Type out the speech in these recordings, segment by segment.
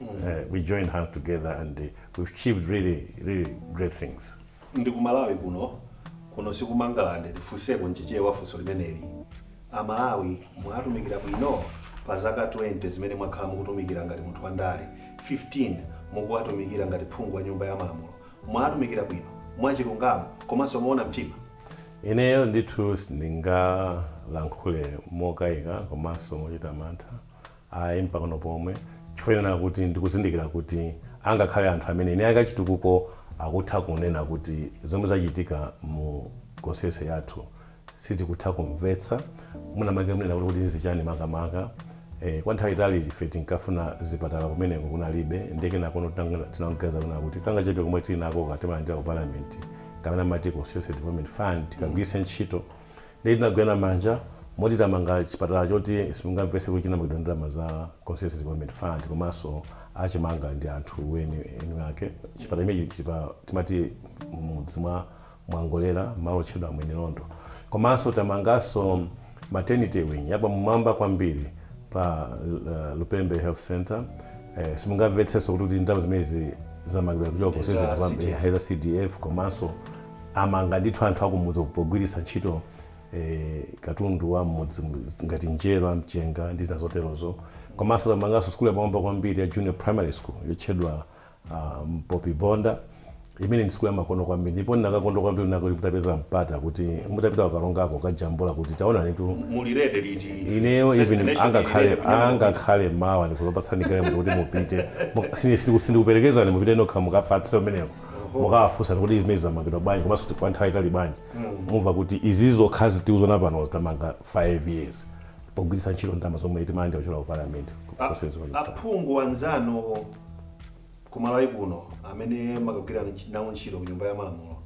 Uh, we joined hands together and uh, we've achieved really, really great things. ndi ku malawi kuno kuno si ku mangalande ndifunseko mchichewa funso limeneli amalawi mwatumikira bwino pa zaka 20 zimene mwakhala mukutumikira ngati munthu wandale 15 mukuwatumikira ngati phungu wa nyumba ya malamulo mwatumikira bwino mwachilungamo komanso moona mtima ineyo ndithu sindingalankhule mokayika komanso mochita mantha Ayi mpang'ono pomwe, chifukwa chonena kuti ndikuzindikira kuti angakhale anthu amene eni ake a chitukuko akutha kunena kuti zomwe zachitika mu constituency yathu sitikutha kumvetsa, mwina mwake kunena kuti nzichani makamaka. Eh, kwa nthawi yaitali ife tinkafuna zipatala kumeneko kunalibe, ndiye kenakono tinang, tinangoganiza kunena kuti kangachepe komwe tili nakoka timalandira ku parliament, kamene amati constituency development fund, tikagwiritse ntchito. Ndiye tinagwirana manja moti tamanga chipatala choti simungamvetse kuti chinamangidwa ndi ndalama za Constituency Development Fund komanso achimanga ndi anthu eni eni ake. Chipatala chimenechi chili pa timati m'mudzi mwa Mwangolera malo otchedwa Mwenilondo. Komanso tamanganso maternity wing yapamwamba kwambiri pa Lupembe Health Centre. Eh, simungamvetsenso kuti kuti ndalama zimenezi zamangidwa kuchoka Za Constituency Development CDF. eh, za CDF komanso Amanga ndithu anthu akumudzi uku pogwiritsa ntchito katundu wa m'mudzi ngati njerwa, mchenga ndi zina zoterozo. Komanso tamanganso sukulu yapamwamba kwambiri ya Junior Primary School yotchedwa Mpopi Bonda imene ndi sukulu yamakono kwambiri. Ndipo ndinakakondwa kwambiri kunena kuti mutapeza mpata kuti mutapita ku Karongako kukajambula kuti taonanitu. Muli ready liti ineyo even angakhale mawa ndikhoza kupatsani galimoto kuti mupite. Mu- sini- sini- Sindikuperekezani mupite nokha mukafatse kumeneko. mukawafunse kuti zimenezi zamangidwa bwanji komanso kuti kwa nthawi yaitali bwanji mumva kuti izizo zokhazi tikuziona panozi tamanga 5 years pogwiritsa ntchito ndalama zomwe timalandira kuchokera ku parliament aphungu anzanu ku malawi kuno amene mumakagwira nawo ntchito ku nyumba ya malamulo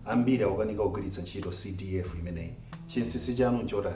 ambiri akukanika kugwiritsa ntchito cdf imeneyi chinsinsi chanu nchotani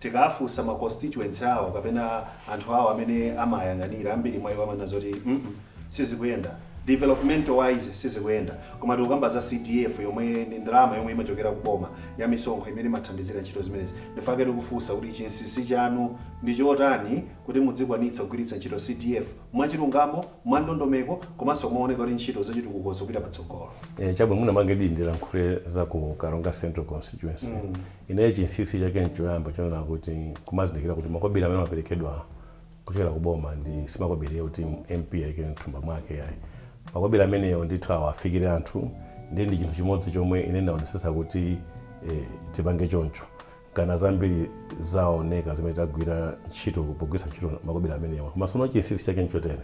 Tikafunsa ma constituents awo kapena anthu awo amene amawayang'anira, ambiri mwa iwo amanena zoti mm sizikuyenda, development wise sizikuyenda. Koma tikukamba za CDF yomwe ndi ndalama yomwe imachokera ku boma ya misonkho imene imathandizira ntchito zimenezi. Ndichifukwa chake tikufunsa kuti chinsinsi chanu ndi chotani kuti mudzikwanitsa kugwiritsa ntchito CDF mwachilungamo, mwandondomeko komanso mooneka kuti ntchito zachitukuko zikupita patsogolo. Eeh chabwino mwina mwake nditi ndilankhule za ku Karonga Central Constituency. Ineyo chinsinsi chake nchoyamba chonena kuti kumazindikira kuti makobiri amene amaperekedwa kuchokera ku boma ndi simakobiri oti MP ayike mthumba mwake iyayi. Makobiri amenewo ndithu awafikire anthu ndiye ndi chinthu chimodzi chomwe ine ndinaonetsetsa kuti tipange choncho. Nkana zambiri zaoneka zimene tagwira ntchito pogwiritsa ntchito makobiri amenewa. Koma sono chinsinsi chake nchotere.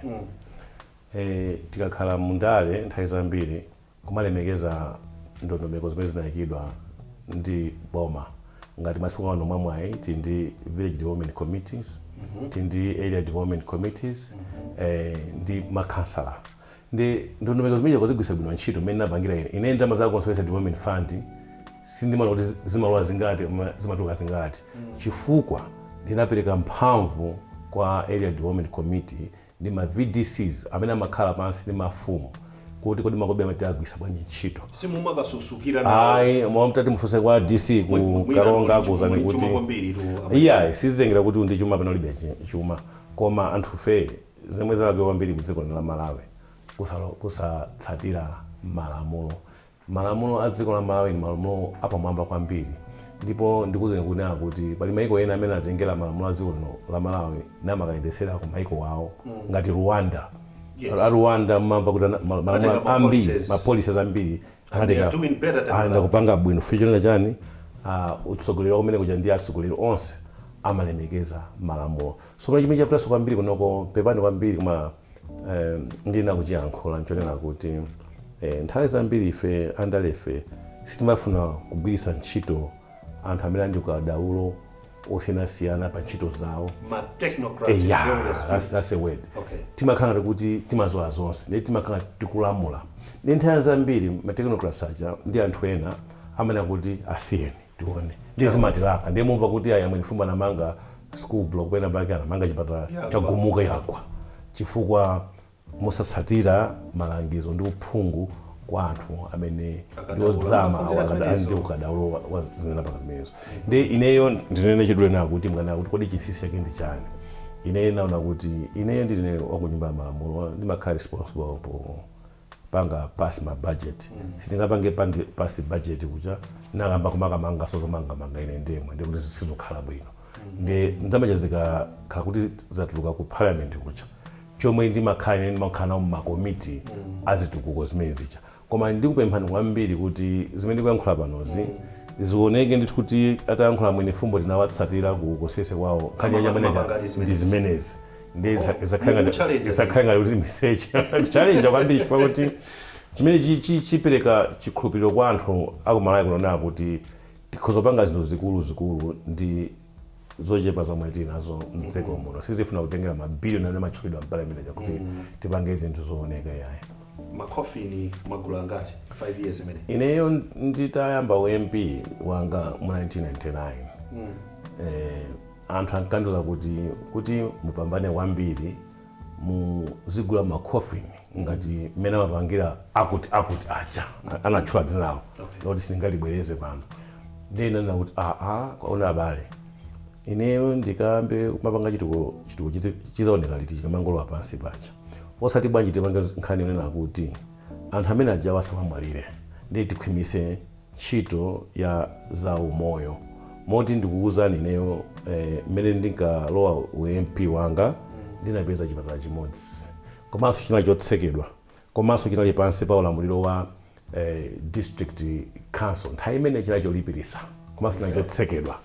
Tikakhala mu ndale nthawi zambiri. kumalemekeza ndondomeko zimene zinaikidwa ndi boma ngati masiku ano mwamwayi tili ndi village development committees tili ndi area development committees eh, ndi makhansala ndi ndondomeko zimene kuzigwiritsa bwino ntchito mmene napangira ine ine ndalama za constituency development fund sindimaona kuti zi- zimalowa zingati koma zimatuluka zingati chifukwa ndinapereka mphamvu kwa area development committee ndi ma VDCs amene amakhala pansi ndi mafumu kuti kodi makobiri amenewa tiagwiritsa bwanji ntchito. Simumakasusukira nawo? Ayi, mwa mutati mufunse kwa DC ku Mwi- mwina Karonga muli chu- akuuzani muli kuti chuma kwambiri tu, amene- iyayi sizitengera kuti uli ndi chuma pena ulibe chi- chuma koma anthufe zomwe zalakwika kwambiri ku dziko lino la Malawi kusalo- kusatsatira malamulo Malamulo a dziko la Malawi ndi malamulo apamwamba kwambiri ndipo ndikuuzeni kunena kuti pali maiko ena amene anatengera malamulo a dziko lino la Malawi namakayendetsera ku maiko awo ngati Rwanda. Yes. A Rwanda mumamva kuti ana- ma- malamulo Anatenga ma ambiri policies. ma policies ambiri And they are anatenga doing better than anaenda Malawi. kupanga bwino chifukwa chonena chani ah, utsogoleri wa kumene kuja ndi atsogoleri onse amalemekeza malamulo Tsopano chimene chavutanso kwambiri kunoko, pepani kwambiri, koma eeh, ndiyenera kuchiyankhula, nchonena kuti eeh, nthawi zambiri ife andalefe sitimafuna kugwiritsa ntchito anthu amene ali ndi ukadaulo osiyanasiyana pa ntchito zawo. Ma technocrats in Eya, various that's, fields. that's a word. Okay. Timakhala ngati kuti timadziwa zonse, ndiye timakhala ngati tikulamula. Ndiye nthawi zambiri ma technocrats aja ndi anthu ena amanena kuti asiyeni. tione ndiye zimatilaka ndiye mumva kuti ayi a Mwenifumbo anamanga school block pena pake anamanga chipatala chagumuka yagwa chifukwa mosatsatira malangizo ndi uphungu kwa anthu amene ndi odzama awo akada- ali ndi ukadaulo wa- wa zimene napanga zimenezo ndiye ineyo ndinene chidule nawo kuti mkanena kuti kodi chinsinsi chake ndi chani ineyo naona kuti ineyo ndine wakunyumba ya malamulo ndimakhala responsible po panga pass ma budget sitingapange pange pass budget kuja nakayamba kumakamanganso zomangamanga ine ndemwe ndikuti sizokhala bwino ndi ndalama zija zikakhala kuti zatuluka ku parliament kuja chomwe ndimakhala ine ndimakhala nawo mumakomiti azitukuko zimene zija koma ndikupemphani kwambiri kuti zimene ndikuyankhula panozi zioneke ndithu kuti atayankhula a Mwenifumbo tinawatsatira ku constituency kwawo nkhani ya Amapanga- amapanga nyamene list ndi zimenezi ndi isa- Oh, isakhale ngati- mukuchallenge isakhale ngati kuti miseche kuchalenja kwambiri chifukwa kuti chimene chi- chi- chipereka chikhulupiriro kwa anthu akumalawi kunonena kuti tikhoza kupanga zinthu zikuluzikulu ndi zochepa zomwe tili nazo mdziko muno sizifuna kutengera mabiliyoni amene amatchulidwa mpalamente kuti tipange zinthu zooneka yayi makofini magulu angati 5 years imene ineyo nditayamba u MP wanga mu 1999 eh, Anthu ankandiuza kuti, kuti mupambane kwambiri muzigula ma coffin ngati mmene amapangira akuti akuti aja. Anatchula dzinalo loti sindingalibwereze pano. Ndiye ndinanena kuti, Aa koma abale, ineyo ndikayambe kumapanga chitukuko, chitukuko chidzaoneka liti chikamangolowa pansi paja? Osati bwanji tipange nkhani yonena kuti anthu amene ajawo asamamwalire ndiye tikhwimitse. ntchito ya za umoyo moti ndikukuuzani ineyo eh, mmene ndinkalowa u MP wanga ndinapeza chipatala chimodzi komanso chinali chotsekedwa komanso chinali pansi pa ulamuliro wa eh, district council nthawi imene chinali cholipirisa komanso chinali chotsekedwa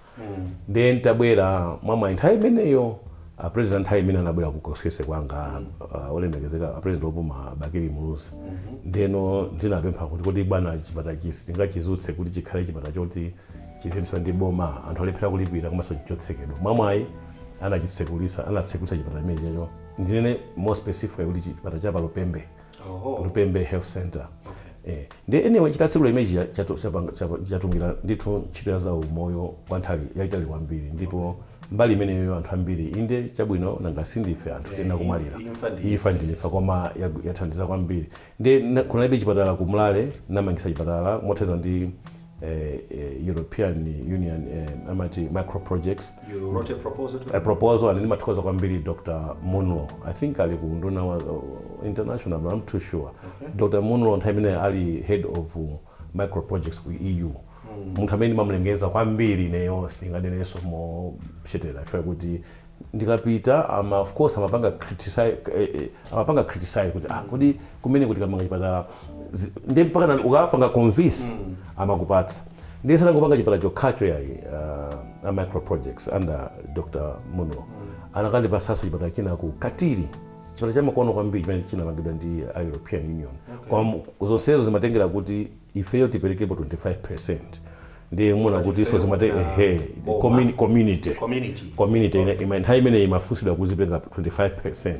Ndiye n'tabwera mwamwayi nthawi imeneyo a president nthawi imene anabwera ku constituency kwanga uh, olemekezeka a president opuma Bakili Muluzi ndeno ndinapempha kuti kodi bwana chipatala ichi sitingachidzutse kuti chikhale chipatala choti chiziyendetsedwa ndi boma anthu alephera kulipira komanso chotsekedwa mwamwayi anachitsekulitsa anatsekulitsa chipatala chimenecho ndinene more specifically kuti chipatala cha pa Lupembe lupembe health center eh ndi anyway chitatsekula imeji chatumikira ndithu ntchito ya za umoyo kwa nthawi yaitali kwambiri ndipo mbali imeneyo anthu ambiri inde chabwino nanga sindife anthu tinakumwalira imfa ndi imfa koma yagu- yathandiza kwambiri ndiye kunalibe chipatala ku Mlare n'namangitsa chipatala mothandizana ndi European Union amati micro projects a proposal and ndimathokoza kwambiri Dr. Munlo I think ali ku nduna ya uh, international but I'm not too sure okay. Dr. Munlo nthawi imene ali head of uh, micro projects ku EU mm. munthu amene ndimamlemekeza kwambiri ineyo sindinganenenso moshetera chifukwa kuti ndikapita ama of course amapanga criticize eh, eh, amapanga criticize kuti ah kodi kumeneko tikamanga chipatala zi- ndi mpaka na- ukapanga convince amakupatsa ndiye sanangopanga chipatala chokhacho yayi uh, a micro projects under dr munlo anakandipatsanso chipatala china ku katiri chipatala chamakono kwambiri chimene chinamangidwa ndi a european union koma zonsezo zimatengera kuti ifeyo tiperekepo 25% ndiye muna kutinso zimati ehe commu- community community ine- ima- nthawi imene imafunsidwa kuzipeleka 25%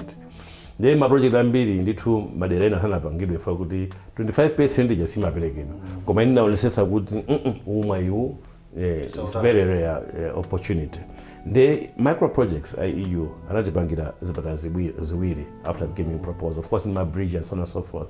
ndiye maprojekti ambiri ndithu madera ena sanapangidwe fo kuti 25% ija simaperekedwa koma ine naonesesa kuti "Mm-mm, mwayi uwu eh, it's very rare eh, opportunity ndi micro projects a EU anatipangira zipatala zibwi- ziwiri after giving proposal of course ndi mabridge and so on and so forth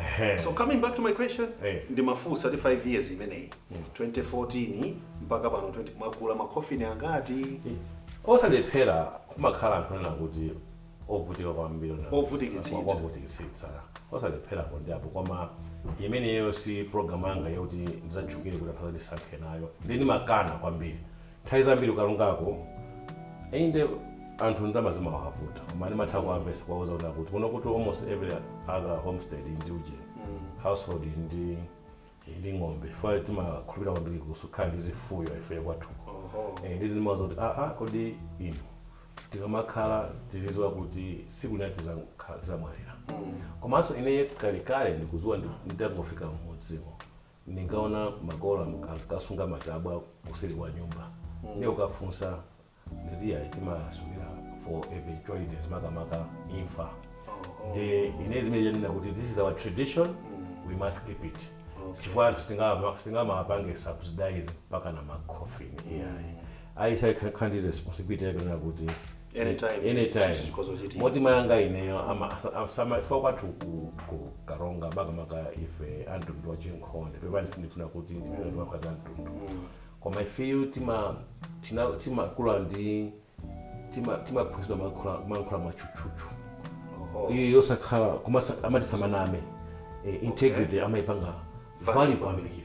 Ehe. so coming back to my question Eh. ndimafunsa kuti 5 years imeneyi 2014 mpaka pano 20 mwagula makofini angati osalephera kumakhala anthu onena kuti ovutika kwambiri onena- Ovutikitsitsa. wa- ovutikitsitsa osalepherako ndi apo koma imeneyo si program yanga yoti ndizatchukire kuti anthu azandisankhe nayo ndiye ndimakana kwambiri Nthawi zambiri ku Karongako, inde anthu ndalama zimawavuta koma ndimatha kuwamvesa kuwauza kuti akuti kuno kuti almost every other homestead ndi uje household ili ndi ili ndi ng'ombe fo timakhulupirira kwambiri zokhala ndi zifuyo ife kwathuko Eh, nditi ndimawauza kuti aa kodi inu tikamakhala tiziziwa kuti siku lina tizakhala- tizamwalira komanso ine kalekale ndikuziwa ndi- nditangofika mmudzimo Ndinkaona makolo am- ankasunga matabwa kuseri kwa nyumba ndiye ukafunsa nditi ayi timasungira for eventualities makamaka imfa ndiye ine ndimanena kuti this is our tradition we must keep it chifukwa anthu sitingama- sitingamapange subsidize mpakana macoffin iyayi ayi azikhala ndi responsibility yakunena kuti Anytime. anytime Chikhozo chiti. moti mayanga ineyo ama- asa- asama- chifukwa kwathu ku- ku karonga makamaka ife amtundu wa chinkhonde pepani sindifuna kuti ndizikamba za mtundu koma ifeyo tima- tina- timakula ndi tima- timaphunzitsidwa kuyankhula kuyankhula mwachuchuchu Oho. iyo yosakhala koma sa- amati samaname Eh, integrity amaipanga value kwambiri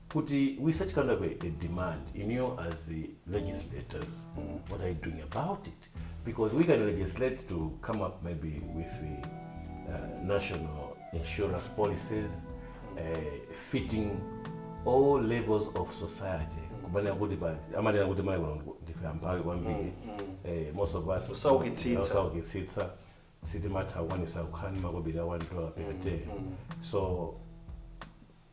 kuti with such kind of a, a demand inuyo as the legislators what are you doing about it because we can legislate to come up maybe with the uh, national insurance policies uh, fitting all levels of society kumanena kuti pa amanena kuti Malawi kuno ndife amphawi kwambiri eh, most of us Osaukitsitsa. osaukitsitsa sitimatha kukwanisa kukhala ndi makobiri a one dollar per day so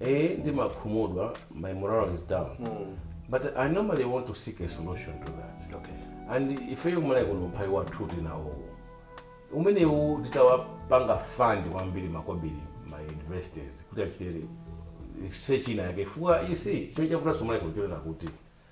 Eh, ndimakhumudwa my morale is down but i normally want to seek a solution to that okay. and ifeyo Malawi kuno umphawi wathu tinawo umenewu titawapanga fund kwambiri makobiri ma universities kuti achite research ina yake chifukwa ichi chimene chavutanso Malawi kuno chonena kuti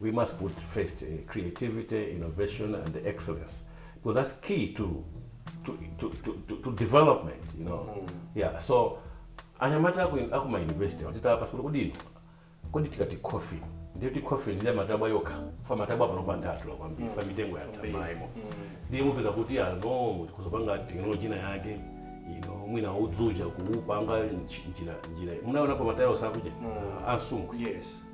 We must put first creativity, innovation and excellence because that's key to to, to, to, to, to development you know mm. yeah so anyamata aku ma university watita apa sikulu kudino kodi tikati coffee ndiyo ti coffee ndiye matabwa yoka fa matabwa pano pa ndatu la kwambiri mm. fa mitengo ya tamaimo mm. ndiye mupeza kuti ya no tikuzopanga technology na yake you know mwina udzuja kuupanga njira njira munaona pa matayala sakuja mm. ansungu yes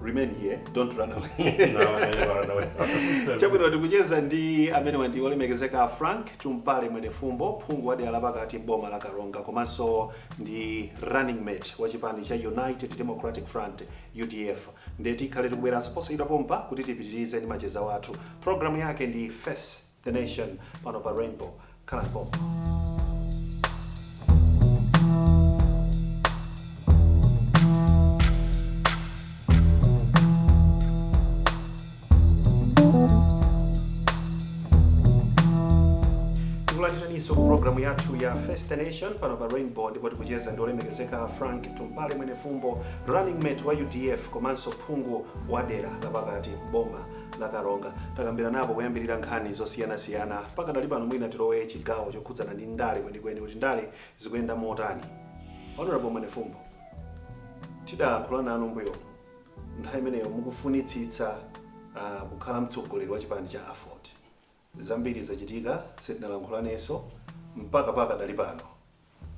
remain here don't run away chabwino tikucheza ndi amenewa ndi olemekezeka frank tumpale mwenefumbo phungu wa dera lapakati m'boma la karonga komanso ndi running mate wa chipani cha united democratic front udf ndiye tikhale tikubweranso posachedwa pompa kuti tipitirize ndi macheza wathu programu yake ndi face The Nation pano pa Rainbow. Khalani pompo. tikulandiraninso ku programu yathu ya Face the Nation pano pa Rainbow ndipo tikucheza ndi olemekezeka Frank Tumpale Mwenefumbo running mate wa UDF komanso phungu wa dera lapakati boma la karonga takambiranapo kuyambirira nkhani zosiyanasiyana pakadali pano mwina tilowe chigawo chokhudzana ndi ndale kwenikweni kuti ndale zikuyenda motani honorable Mwenefumbo tidalankhula nanu mbuyo nthawi imeneyo mukufunitsitsa uh, kukhala mtsogoleri wa chipani cha aford Zambiri zachitika sitinalankhulaneso mpaka pakadali pano.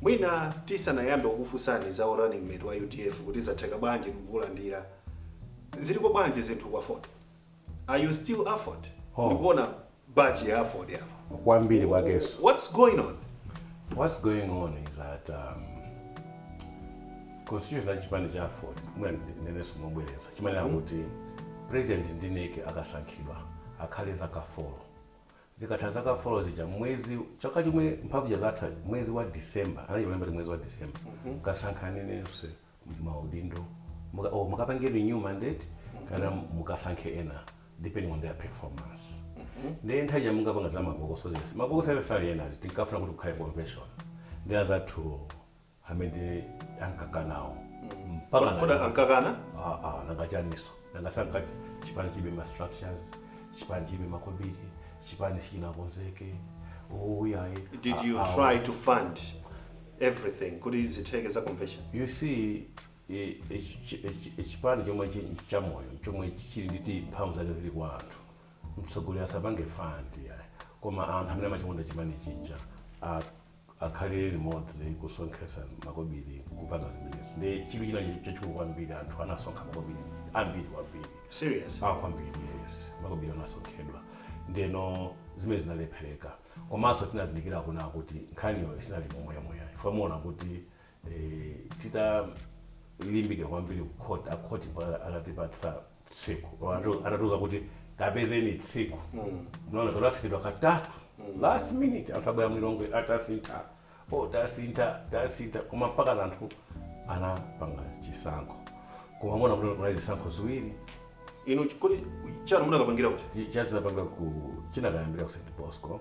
Mwina tisanayambe kukufunsani za u running mate wa udf kuti zatheka bwanji inu kuulandira. Ziliko bwanji zinthu ku aford? Are you still aford? Oh. Ndikuona badge ya aford apa. kwambiri kwakeso What's going on? what's going on is that um, constitution ya chipani cha aford mwina ndineneso mobwereza imanena kuti president ndi NEC akasankhidwa akhale zaka folo zikatha zaka folo zija mwezi chaka chomwe mphamvu zatha mwezi wa december anachimalemba ti mwezi wa december mukasankhanenso maudindo muka- oh, mukapange renew mandate kana mukasankhe ena depending on their performance ndiye nthawi ya mungapanga za mabokoso zese mabokoso ena sali ena tinkafuna kuti kukhale convention ndi azathu amene ankakanawo mpaka Kodi- kodi na- ankakana? Ah, ah, nanga chaniso nanga sankati chipani chibe ma structures chipani chibe makobiri chipani sichinakonzeke ouyaye did you try to fund everything kuti zitheke za convention you see e- e- chi- e- chi- e- chipani chomwe chi- cha moyo chomwe chili ndi ti mphamvu zake zili kwa anthu mtsogoleri asapange fandi ayi koma anthu amene amachikonda chipani chija a- akhale limodzi kusonkhesa makobili kupanga zimenezi ndi chidwi china chachikulu kwambiri anthu anasonkha makobili ambiri kwambiri Serious? ah kwambiri yes makobili anasonkhedwa ndeno zimene zinalephereka komanso tinazindikira kunena kuti nkhaniyo isinali momwemoya ifo muona kuti eh, titalimbikira kwambiri kukhoti akhoti atatipatsa tsiku Anatu- anatiuza kuti kapezeni tsiku mnaona tonasekedwa katatu last minute anthu abwera mu Lilongwe tasintha o tasintha tasintha koma mpakana anthu anapanga chisankho koma mona kuti kunali zisankho ziwiri inu chipani chanu munakapangira kuti Chi- chathu tinapanga ku chinakayambira ku St. Bosco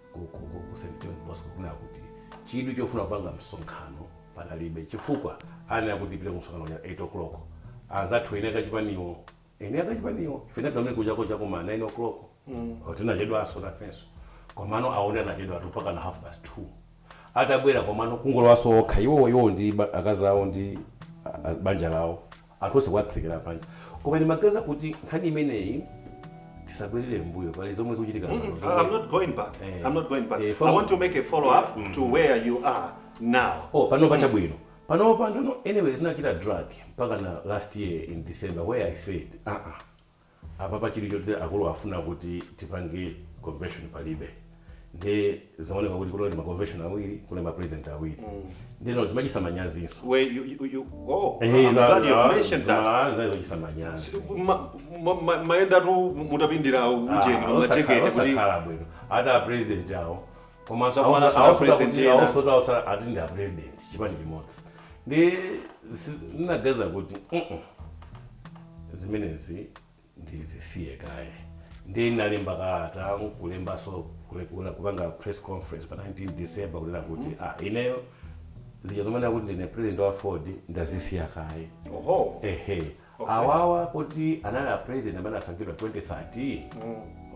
ku St. John Bosco kunena kuti chidwi chofuna kupanga msonkhano panalibe chifukwa ananena kuti tipite ku msonkhano uja 8 o'clock. Anzathu eni ake achipaniwo, eni ake achipaniwo, ife tinapita kumene kuja cha kuma 9 o'clock. Oti tinachedwanso nafenso. Komano awo anachedwatu mpakana half past 2. Atabwera komano kungolowanso okha iwowo iwowo ndi ba- akazi awo ndi ah, banja lawo. anthu onse kuwatsekera panja koma ndimaganiza kuti nkhani imeneyi tisabwerere mbuyo pali zomwe zikuchitika Mm, pano mm, zomwe- I'm not going back. Eh. I'm not going back. Eh, I fam- want to make a follow up to where you are now. oh panopa chabwino panopa ndeno anyway zinachita drag mpakana last year in december where i said uh -uh. Apapa chidwi choti akulu afuna kuti tipange convention palibe nde zaoneka kuti kunali ma convention awiri kunali ma president awiri ndeno zimachititsa manyazinso Where you, you, you oh, Eh, I'm za- glad you za- mentioned that. zima- za- zimachititsa manyazi Ma- ma- ma- mayenda tu mutapindira ujeni Ah, pamajekete osakhala- kuti osakhala bwino ati a president awo Zakuona sala president ena. koma awonso ati ndi a president chipani chimodzi nde ndinaganiza kuti mm zimenezi ndizisiye kaye nde ndinalemba kalata nkulembaso kupanga press conference pa 19 december kunena kuti mm -hmm. ah, ineyo zija zomanena kuti ndine president wa aford ndazisiya kaye ehe okay. awawa poti anali apresident amene asankhidwa 2013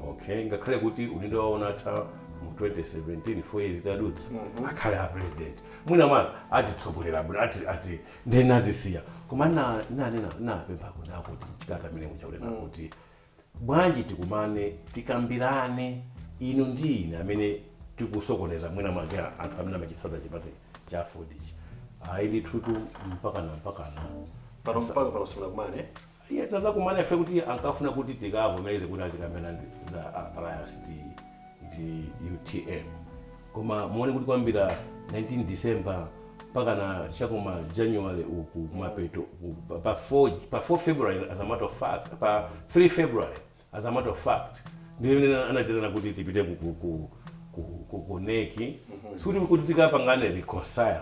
okay ngakhale kuti udindo wawo unatha mu 2017 four years itadutsa akhale a president mwina mwake atitsogolera bwino ati ati ndinazisiya koma na- nanena ndinapempha kunena kuti mchitata amene kunena kuti Bwanji tikumane, tikambirane, inu ndi ine, amene tikusokoneza mwinamwake anthu amene amachitsatira chipani cha aford ichi? Ayi ndithutu, mpakana mpakana. Pano Musa- mpaka pano simunakumane? ayi tinazakumana ife kuti ankafuna kuti tikavomereze kuti azikambirana za a- alliance ndi ndi utm koma muone kuti kuyambira 19 december mpakana chakuma january uku kumapeto ku- pa- pa 4 pa 4 february as a matter of fact pa 3 february as a matter of fact ndiye imene anaitanirana kuti tipite ku, ku, ku, ku, ku, ku neki sikuti kuti tikapangane reconcile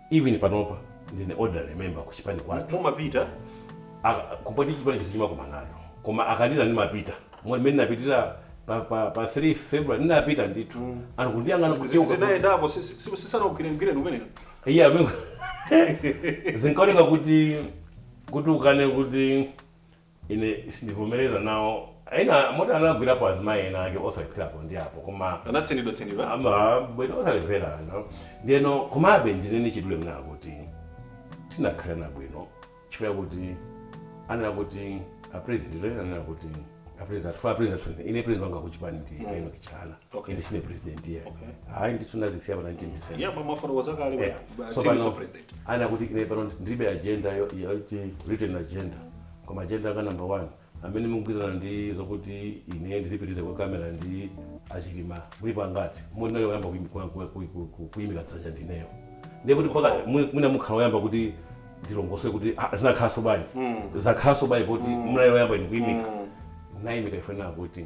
Even panopa ndine ordinary member ku chipani kwathu. Mumapita? Aka kupoti chipani chisi chimakumana ayi. Koma akaitana ndimapita. Moti mmene napitira pa, pa, pa 3 February ndinapita ndithu. Mm. Anthu kundiyang'ana kucheuka. Zinayendapo si, si, si, sisana ugwire mgwire numenera. Iya yeah, zinkaoneka kuti kuti ukane kuti Ine sindivomereza nawo ena moti anagwilapo azimayi ena ake osalephera apo ndi apo koma Anatsinidwa tsinidwa. bwino osalephera you know ndiyeno komabe ndinene mwachidule kunena kuti tinakhalirana bwino chifukwa chakuti anena kuti a president ndizoti ananena kuti a president athu funa a president athu ine president wanga wakuchipani ndi a Enoch Chihana Okay. Ine sine president iyayi. Okay. Hayi ndithu nazisiya pa 19 December. Yeah, mafano wazakale Yeah. So president. anati kuti ine pano ndiribe agenda yo- yoti written agenda koma agenda ya number one amene mukugwirizana ndi zokuti ine ndizipitize kwa Chakwera ndi achilima mulipo angati? munali woyamba kuim- ku- ku- ku- ku- ku- kuimika dzanja ndineyo ndiye kuti apa mwi- mwina mukhala oyamba kuti ndilongosole kuti ah, zinakhalanso bwanji zakhalanso bwanji poti munali oyamba ine kuimika naimika ife nakuti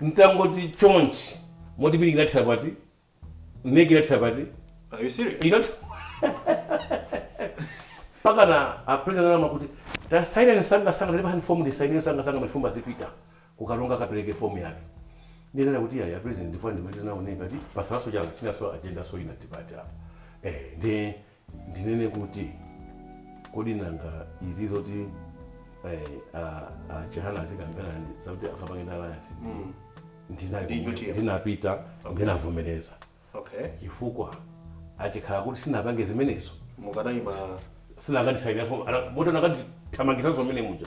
Mtangoti chonchi moti NEC inathera pati? NEC inathera pati? Are you serious? Ina mpakana a president ananena kuti tasainani msanga msanga ndipo hand form ndisainire msanga msanga Mwenifumbo azipita ku Karonga akapereke form yake. Ndinena kuti iyayi president ndipo ndimalize nawo NEC ati patsalanso chani chinanso agenda so ina debate apa. Eh ndi ndinene kuti kodi nanga izi zoti eh, a- a chihana azikambirana ndi- zakuti akapange ndi alliance ndi- ndina- Ndi UTM. ndinapita ndinavomereza okay chifukwa chikhala kuti sinapange zimenezo mukadayima sinakandisayinira moti anakandithamangisa zomene muja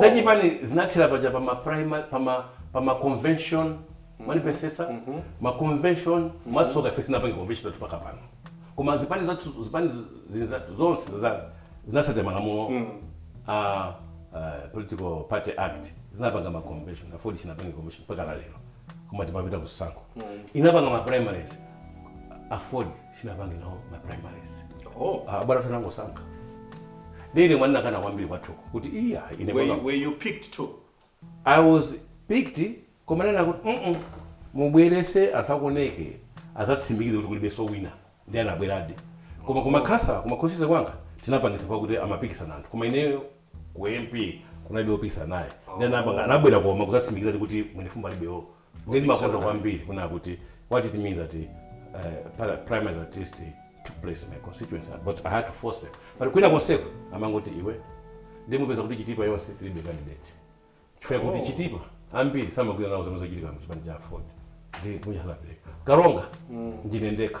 za chipani zinathera paja pa ma primary pa ma pa ma convention mwandimvetsetsa ma convention mwatsoka ife sitinapange convention yathu mpaka pano koma zipani zathu zipani zi- zinzathu zonse zinzathu zinatsatira malamulo a eh, political party act zinapanga ma convention AFORD sinapange convention mpaka lero koma timapita kusankho inapanga ma primaries AFORD sinapange nawo ma primaries Oh, Ah, bwana tanangosankha ndi ine mwina nakana kwambiri kwathuko kuti iya ine were you, panga- were you picked too? i was picked koma nena kuti mm mubwerese anthu akuneki azatsimikize kuti kulibenso wina ndi anabweradi koma koma khansala koma constituency kwanga tinapangisa kwa kuti amapikisana anthu koma ineyo ku mp kunalibe opikisana naye ndi anapanga anabwera koma kuzatsimikiza ndi kuti Mwenifumbo alibe ndi ndimakonda kwambiri kunena kuti what it means that uh, primaries at least took place in my constituency but i had to force them but kwina konseko amangoti iwe ndiye mupeza kuti chitipa yonse tilibe candidate chifukwa kuti oh. chitipa ambiri samagwira nawo zomwe zochitika mchipani cha aford ndi kunyalanyazidwa karonga mm. ndine ndekha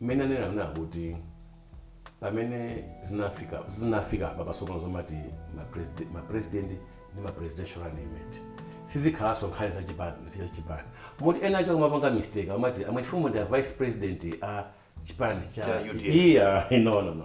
Mmene aneneri ananena kuti pamene zinafika zinafika apa pa tsopano zomati ma president ma president ndi ma presidential running mate sizikhalanso nkhani za chipani za chipani moti ena ake kumapanga mistake amati a Mwenifumbo ndi a vice president a chipani cha cha UDF iya no no no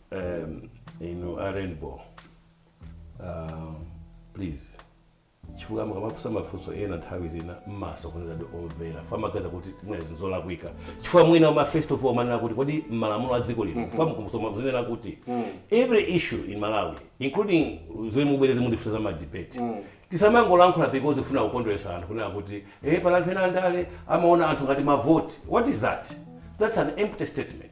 um, inu a rainbow um, please chifukwa mukamafunsa mafunso ena nthawi zina mumasokoneza ndi omvera chifukwa amaganiza kuti mwina zinthu zolakwika chifukwa mwina uma first of all mumanena kuti kodi malamulo a dziko lino fa mukumusoma zinena kuti every issue in malawi including zomwe mubwereze mundifunsa za madebate tisamangolankhula because tikufuna kukondweretsa anthu kunena kuti eh pali anthu ena andale amaona anthu ngati mavoti what is that that's an empty statement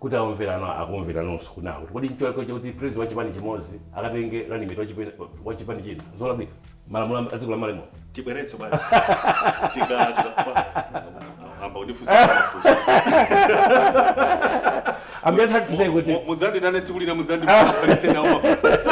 kuti omvera anu akumvera nonso kunena kuti kodi ncholakwa chakuti president wa chipani chimozi akatenge running mate wa chipani china nzolakwika malamulo adziko la malamulo tibwerenso bwana tika tika yamba kundifunsa mafunso I'm just trying to say kuti Mu- mudzanditane tsiku lina mudzandipalitse nawo mafunso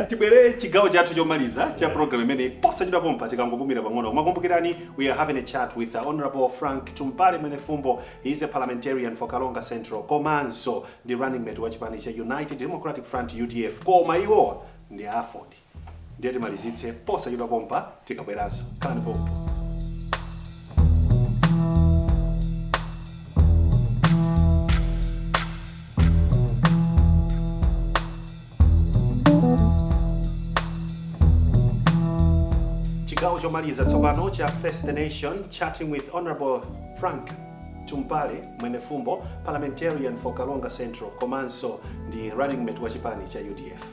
tibwere chigawo chathu chomaliza cha program imeneyi posachedwa pompa tikangopumira pang'ono koma kumbukirani we are having a chat with the honorable frank tumpale mwenefumbo He is a parliamentarian for Karonga Central komanso ndi running mate wa chipani cha United Democratic Front, udf, koma iwowa ndi a aford ndiye timalizitse posachedwa pompa tikabweranso khalani pomwepo. Chigawo chomaliza tsopano cha Face the Nation, Chatting with Hon. Frank Tumpale, Mwenefumbo, Parliamentarian for Karonga Central komanso ndi running mate wa chipani cha udf.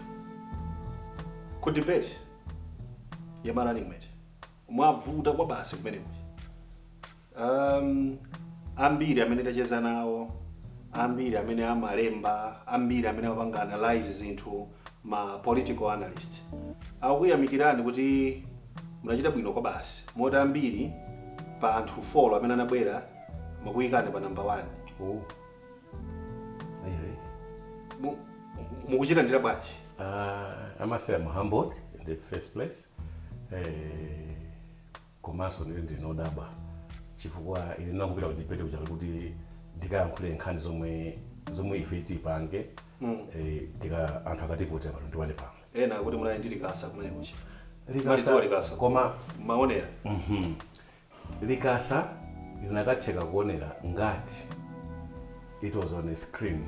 Ku debate ya ma running mate mwavuta kwabasi kumeneko. Um, ambiri amene tacheza nawo ambiri amene amalemba ambiri amene amapanga analyze zinthu ma political analyst akuyamikirani kuti munachita bwino kwabasi moti ambiri pa anthu 4 amene anabwera amakuyikani pa namba 1 oh. mukuzilandira bwanji uh, i must say i'm humbled in the first place uh, Komanso ine ndine odabwa chifukwa ine ndinangopita ku debate kuja kuti ndikayankhule nkhani zomwe zomwe ife tipange mm. e, tika anthu akativotera pa 21 pano. Ena akuti munali ndi likasa kumene kuja. Likasa, likasa koma maonera. Mm -hmm. Likasa linakatheka kuonera ngati it was on a screen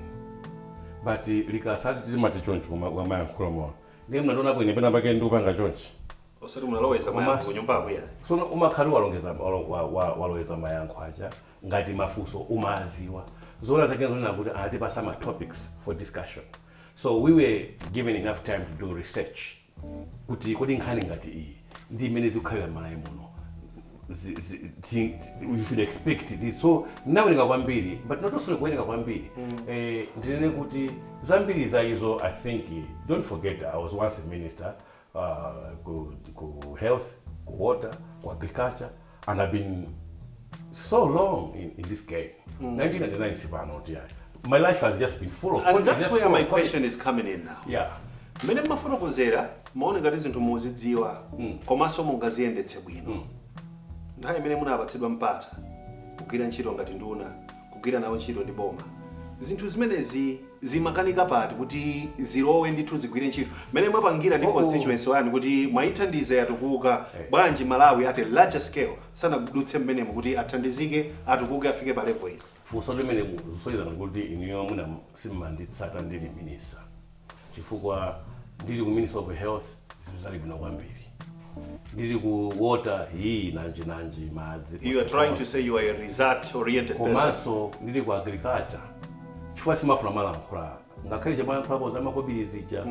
but eh, likasa timati choncho koma kwamayankhula mwa Ndiye mnandionapo ine penapake ndikupanga chonchi? Osati munaloweza mayankho Komanso- kunyumbaku ya. So umakhala walongeza walo- wa- wa- waloweza mayankho aja ngati mafunso umaziwa zoona zake nzonena kuti anatipasa ma topics for discussion so we were given enough time to do research kuti kodi nkhani ngati iyi ndi mmene zikukhalira m'malawi muno zi- zi- zi- you should expect this so ndinawerenga kwambiri but not also kuwerenga kwambiri eh, ndinene kuti zambiri za izo i think eh, don't forget i was once a minister uh, ku, ku health ku water ku agriculture and i've been so long in, in this game mm. 1999 sipano kuti yeah. my life has just been full of and that's where my question is coming in now yeah mmene mmafotokozera mumaoneka ngati zinthu muzidziwa mm. komanso mungaziyendetse bwino mm. nthawi imene munapatsidwa mpata kugwira ntchito ngati nduna kugwira nawo ntchito ndi boma. Zinthu zimenezi zimakanika pati kuti zilowe ndithu zigwire ntchito? Mmene mwapangira ndi Oh, oh. constituency wanu kuti mwaithandiza yatukuka, Eh. bwanji Malawi at a larger scale sanadutse mmenemo kuti athandizike, atukuke afike pa level iyi? funso limene mukusonyeza ngati kuti inuyo mwina simumanditsata ndili minister chifukwa ndili ku minister of health zinthu zinali bwino kwambiri ndili ku water hii nanji nanji madzi You are trying to say you are a result oriented person. komanso ndili ku agriculture chifukwa simafuna kumalankhula ngakhale chamalankhulapo za makobiri zija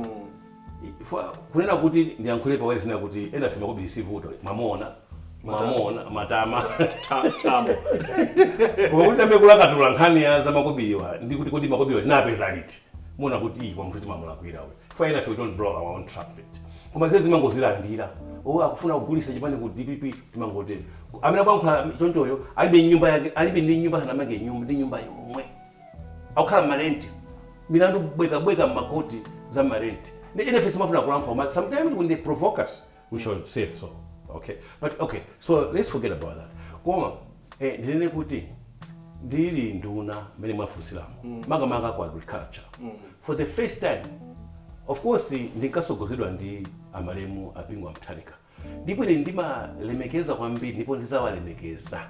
Ifwa- kunena kuti ndiyankhule pawere tinena kuti enafe makobiri sivuto mumaona mumaona matama Ta- Tamo. koma kuti ndiyambe kulakatula nkhani ya za makobiriwa ndi kuti kodi makobiriwa tinapeza liti muona kuti ii koma munthu timamulakwira uyu chifukwa enafe we don't blow our own trumpet koma zezi timangozilandira o akufuna kugulisa chipani ku dpp timangotero Ku- amene akuyankhula chonchoyo alibe nyumba yake alibe ndi nyumba sanamange nyumba ndi nyumba yomwe akukhala mmarenti milandu bwekabweka mmakoti za mmarenti ndiye enafe simafuna kulankhula koma sometimes when they provoke us we shall say so okay but okay so let's forget about that koma eh, ndinene kuti ndili nduna mmene mwafunsiramo mm. makamaka ku agriculture mm. for the first time of course ndinkasogozedwa ndi amalemu a bingu wa mutharika ndipo ine ndimalemekeza kwambiri ndipo ndizawalemekeza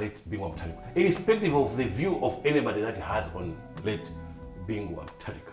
late bingu wa mutharika irrespective of the view of anybody that has on late bingu wa mutharika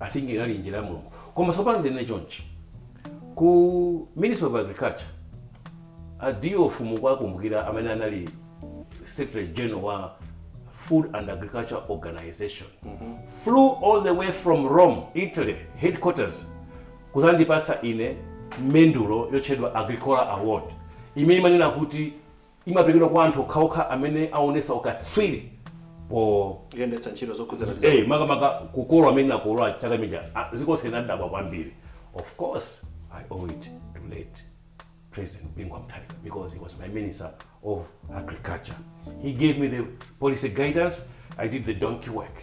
I think inali njira ya Mulungu. Koma tsopano ndinene chonchi. Ku Ministry of Agriculture, a Diofu mukuwakumbukira amene anali Secretary General wa Food and Agriculture Organization. Flew all the way from Rome, Italy, headquarters, kudzandipatsa ine mendulo yotchedwa Agricola Award. Imene imanena kuti imaperekedwa kwa anthu okhaokha amene aonesa ukatswiri po. yendetsa ntchito zokhudzana ndi za. makamaka kukolola komwe tinakolola chaka chimene chija, dziko lonse linadabwa kwambiri. Of course, I owe it to late President Bingu wa Mutharika because he was my Minister of Agriculture. He gave me the policy guidance, I did the donkey work.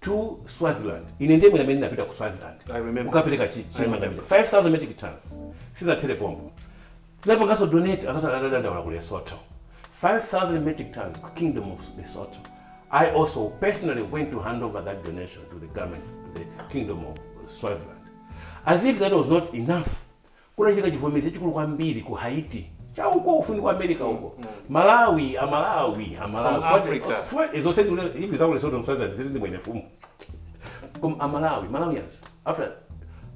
to Swaziland. Ine ndiye mwina amene ndinapita ku Swaziland kukapereka chi chimanga chija 5000 metric tons. Sizinathere pompo. Tinapanganso donate azathu atadandaula ku Lesotho. 5000 metric tons ku Kingdom of Lesotho. I also personally went to hand over that donation to the government to the Kingdom of Swaziland. As if that was not enough. Kunachitika chivomezi chachikulu kwambiri ku Haiti cha uko kufupi kwa America uko. Malawi, a Malawi, a Malawi. From Africa. Zonse ndikunenazi, even zaku Lesotho Swaziland zili ndi Mwenifumbo. Koma a Malawi, Malawians, after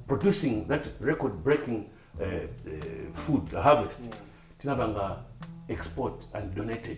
producing that record breaking uh, uh, food harvest, tinapanga export and donated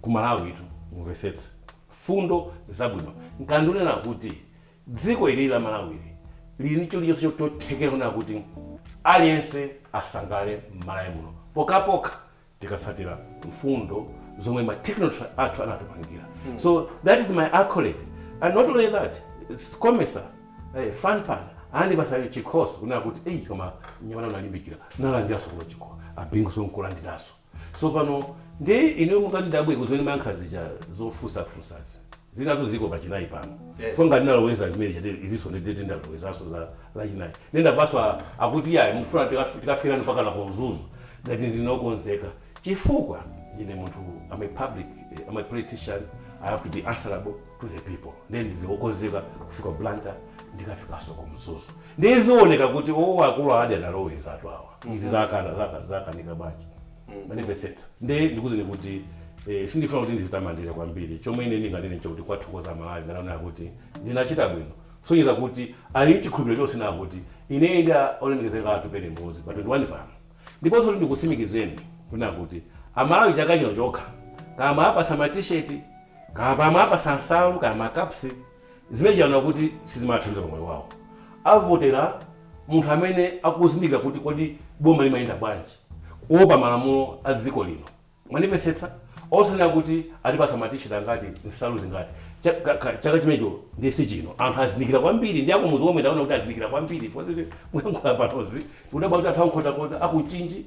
ku malawitu mumvetsetse mfundo zabwino nkuona ndikunena kuti dziko ilili la malawili lili ndi chilichonse chotheketsa kunena kuti aliyense asangalale mmalawi muno pokapokha tikatsatira mfundo zomwe ma technology athu angatipangire so that is my accolade and not only that COMESA eh, FANRPAN anandipatsa chikhoso kunena kuti eyi koma mnyamata unalimbikira nalandiranso kuno chikhoso a Bingunso nkulandiranso Tsopano, ndiye inu mukandidabwe kuti mmene ndimayankha zija zofunsafunsazi. Zinatu zili pa Lachinayi pano. Yes. Fo ngati ndinaloweza zimene zija ndiye izinso ndiye ndiye ndalowezanso za Lachinayi. Ndiye ndamvanso a- akuti iyayi mukufuna tikaf- tikafikirani mpakana ku Mzuzu ngati ndine okonzeka. Chifukwa ndine munthu I'm a public eh, I'm a politician I have to be answerable to the people. Ndiye ndine okonzeka kufika Blantyre ndikafikanso ku Mzuzu. Ndiye zioneka kuti oo akulu aja analowezatu awa. izi zakana zaka zakanika bwanji mukundimvetsetsa nde ndikuuzeni kuti eh, sindifuna kuti ndizitamandire kwambiri chomwe ine ndinganene nchakuti kuwathokoza amalawi ngati akunena kuti ndinachita bwino zikusonyeza kuti ali nchikhulupiriro chonse kunena kuti ine ndi a- olemekezeka atupele muluzi pa 21 pano ndiponso kuti ndikutsimikizireni kunena kuti amalawi chaka chino chokha kaya amawapatsa matisheti kaya amawapatsa nsalu kaya makapsi Zimenezi aona kuti sizimawathandiza pa moyo wawo. Avotera munthu amene akuzindikira kuti kodi boma limayenda bwanji, woopa malamulo a dziko lino. Mwandimvetsetsa? Osanena kuti atipatsa ma t-shirt angati, nsalu zingati. Chaka chimenecho ndiye si chino. Anthu azindikira kwambiri ndi akumudzi omwe ndaona kuti azindikira kwambiri. Muyankhula panozi ndikudabwa kuti anthu a ku Nkhotakota, a ku Mchinji,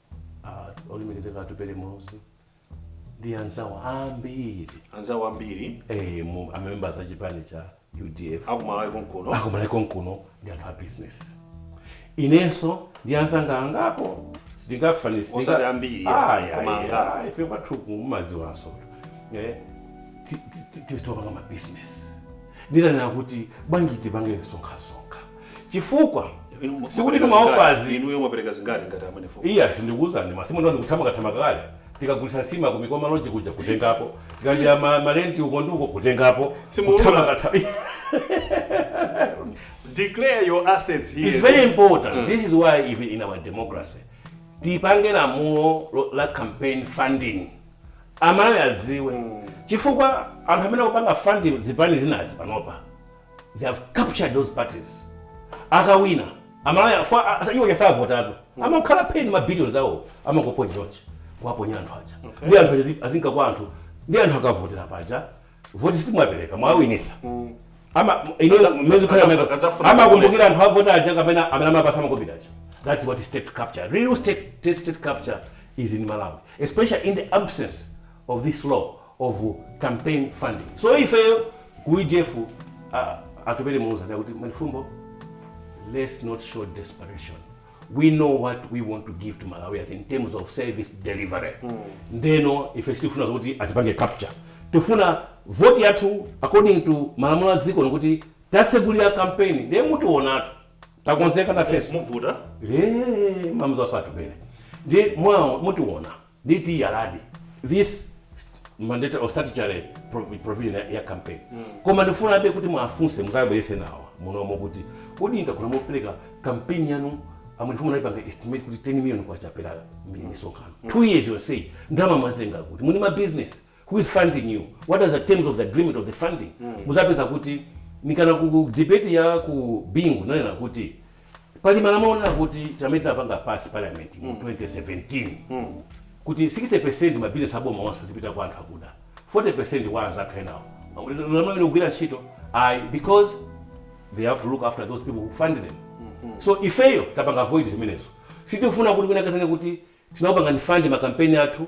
Ah, olemekezeka atupele muluzi ndi anzawo ambiri eh, ma members a chipani cha udf akumalawi konkuno ndi anthu a business inenso ndi anzanga angapo sitingafanisi Osati ambiri, koma angapo. ife kwathu mumaziwanso Eh, ti- ti- ti- tizitopanga mabusiness nditanena kuti bwanji tipange sonkhasonkha chifukwa Inu- sikuti mwapereka timaofazi zingati? inuyo mwapereka zingati ngati a Mwenifumbo iya sindikuwuzani masimu ndo ndikuthamanga-thamanga kale tikagulisa nsima ku Mikoma Lodge kuja kutengapo tikalandira ma, malenti uko ndi uko kutengapo Simuulula. kuthamanga-thamanga. declare your assets here It's very important. This is why even in our democracy tipange lamulo lo- la campaign funding amalawi adziwe chifukwa anthu amene akupanga funding zipani zinazi panopa they have captured those parties akawina amalawi afa a- a- iwo aja savotatu amakhalabe ndi ma billions awo amangoponya chonchi kuwaponya anthu aja Okay. ndi anthu aja azinka kwa anthu ndi anthu akavotera paja voti sitimwapereka mwawinisa ama ino Aza- mwezi khala aza- meko azafuna amakumbukira anthu avota aja kapena amene amapasa makobidi aja that's what is state capture real state state, state capture is in malawi especially in the absence of this law of campaign funding so ifeyo ku udf uh, atupele muluzi anena kuti Mwenifumbo let's not show desperation we know what we want to give to malawians in terms of service delivery ndeno ife sitifuna zokuti atipange capture tifuna voti yathu according to malamulo a dziko lino kuti tasegulira kampeni ndiye mutionatu takonzeka nafenso muvuta Eh, mamzo asatupele ndi mwawo mutiona Nditi yalani this mandatory or statutory provi- provision ya, ya campaign koma ndifunabe kuti muwafunse muzabwerese nawo munomo kuti kodi ndakhola mopereka campaign yanu a Mwenifumbo naipanga estimate kuti 10 million kwacha per misonkhano 2 years yonseyi ndalama mwazitenga kuti muli ma business who is funding you, what are the terms of the agreement of the funding, muzapeza kuti mikana ku debate ya ku Bingu nanena kuti pali malamulo onena kuti amene tinapanga pass parliament mu 2017 kuti 60% ma business aboma onse azipita kwa anthu akuda 40% kwa anzathu enawo malamulo amenewo sakugwira ntchito ayi because they have to look after those people who fund them so ifeyo tapanga avoid zimenezo sitifuna kuti wina akazanene kuti tinakupangani fund makampeni athu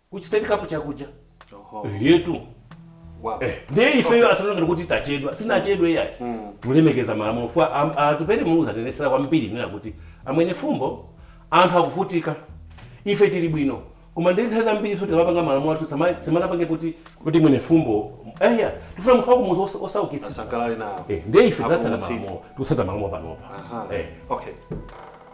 kuchitendekapo chakuja yetu ndiye ifeyo asaone ngati kuti tachedwa sitinachedwe yayi mm. tulemekeza malamulo fwa am- atupele muluzi atinenesera kwambiri nena kuti a mwenifumbo anthu akuvutika ife tili bwino koma ndi nthawi zambiri so tikamapanga malamulo athu sama- samakapange kuti kuti mwenifumbo eya tifuna munthu wakumuzi osa- osaukitsitsa asangalale nawo Eh, ndiye ife tasata Apulumutsidwe. malamulo tikusata malamulo panopa Aha. Eh. okay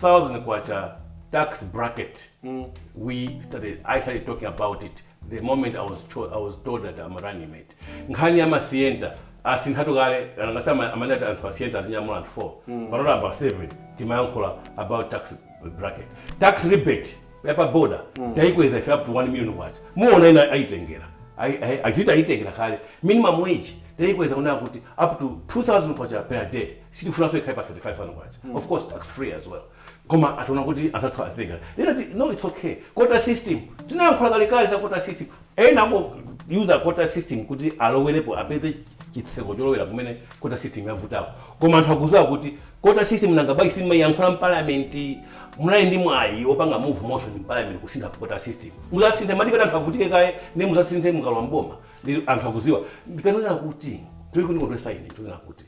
thousand kwacha tax bracket we started i started talking about it the moment i was cho, i was told that i'm a running mate nkhani ya masienta asinthatu kale nanga si ama- amene ati anthu asienta azinyamula anthu 4 pano ayamba 7 timayankhula about tax bracket tax rebate yapa border taikweza ife up to 1 million kwacha muona ena aitengera Ai- ai- achita aitengera kale minimum wage taikweza kunena kuti up to 2000 kwacha per day sitikufunanso ikhale pa K35,000 of course tax free as well koma ationa kuti anzathu azitenga ndinati no its ok quota system tinayankhula kalekale za quota system ena ango user quota system kuti alowerepo apeze chitseko cholowera kumene quota system yavutako koma anthu akuziwa kuti quota system nanga bwanji simmayankhula mparliament munali ndi mwayi opanga move motion mparliament kusintha quota system muzasinthe mmadikira kuti anthu avutike kaye nde muzasinthe mukalowa mboma nde anthu akuziwa ndikanena kuti chomwe chikundikondwesa ine ndikunena kuti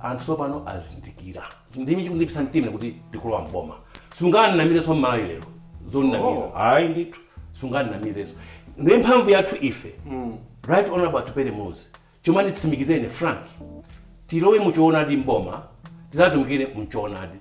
anthu sopano azindikira nchimene chikundilimbisa mtima kuti tikulowa mboma sunganamizeso mmalawi lero zomunamiza oh. ayi ndithu sunganamizeso nde mphamvu yathu ife mm. right honorable atupele muluzi chomwe amanditsimikizira ine frank tilowe muchoonadi mboma tizatumikire mchoonadi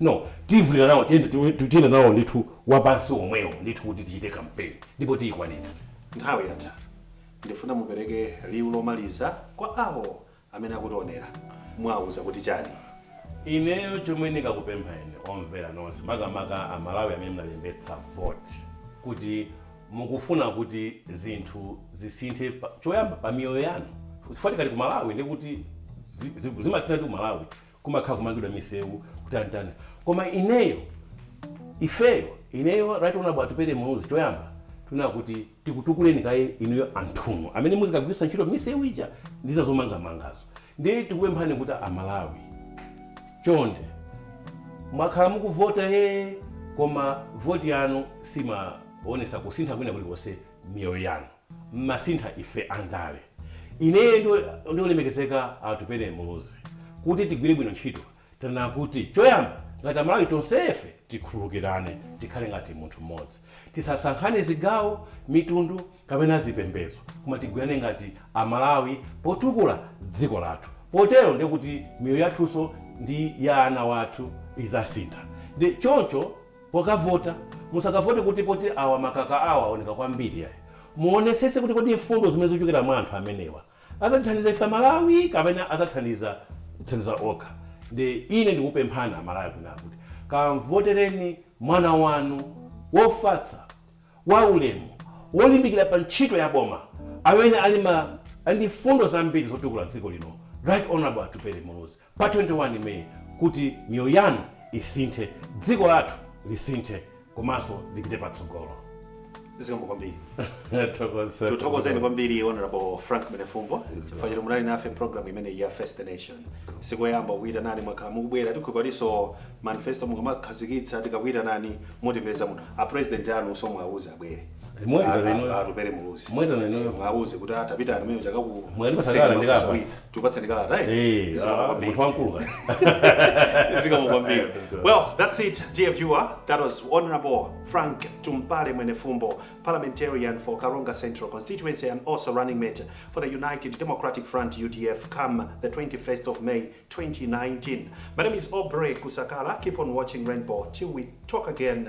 No, tivulira nawo tiyeni tiyende nawo ndithu wapansi omwewo ndithu kuti tichite kampeni ndipo tiyikwanitsa. Nthawi yatha. Ndifuna mupereke liwu lomaliza kwa awo amene akutionera. Muwauza kuti chani? Ineyo chomwe ndingakupempheni omvera nonse makamaka a Malawi amene munalembetsa voti kuti mukufuna kuti zinthu zisinthe choyamba pa miyoyo yanu chifukwa tikati ku Malawi ndekuti zimasinthatu ku Malawi kumakhala kumangidwa misewu kutanitani koma ineyo ifeyo ineyo right honorable atupele muluzi choyamba tunena kuti tikutukuleni kaye inuyo anthunu amene muzikagwiritsa ntchito misewu ija ndi zina zomangamangazo ndiye tikupemphani kuti amalawi chonde mwakhala mukuvota he koma voti yanu simaonesa kusintha kwina kulikonse miyoyo yanu mmasintha ife andale ineyo ndi olemekezeka a Atupele Muluzi kuti tigwire bwino ntchito tanena kuti choyamba ngati amalawi tonsefe tikhululukirane tikhale ngati munthu mmodzi tisasankhane zigawo, mitundu kapena zipembedzo koma tigwirane ngati amalawi potukula dziko lathu potero ndekuti miyoyo yathunso ndi ya ana wathu izasintha nde choncho. Pokavota, musakavote kuti poti awa makaka awa awoneka kwambiri iyayi. Muonesese kuti kodi mfundo zimene zochokera mwa anthu amenewa azatithandiza ife amalawi kapena azathandiza kudzithandiza okha. Ndiye ine ndikupemphani amalawi kuti kamvotereni mwana wanu wofatsa, wa ulemu, wolimbikira pa ntchito ya boma amene ali ndi mfundo zambiri zotukula dziko lino Right Honourable Atupele Muluzi. pa 21 May kuti miyoyo yanu isinthe, dziko lathu lisinthe komanso lipite patsogolo. Zikomo kwambiri. Tikuthokozeni kwambiri Honorable Frank Mwenefumbo chifukwa choti munali nafe mu program imeneyi ya Face the Nation. Sikoyamba kukuyitanani mwakhala mukubwera tikhulupira kutinso manifesto mukamakhazikitsa tikakuyitanani mutipeza muno. A president anunso muwauza abwere. atupere muluzi mwauze kuti atapita amene chakakupatsani kalata eh? munthu wamkulu zikomo kwambiri well that's it dear viewer that was honorable frank tumpale mwenefumbo parliamentarian for karonga central constituency and also running mate for the united democratic front udf come the 21st of may 2019 my name is aubrey kusakala keep on watching rainbow till we talk again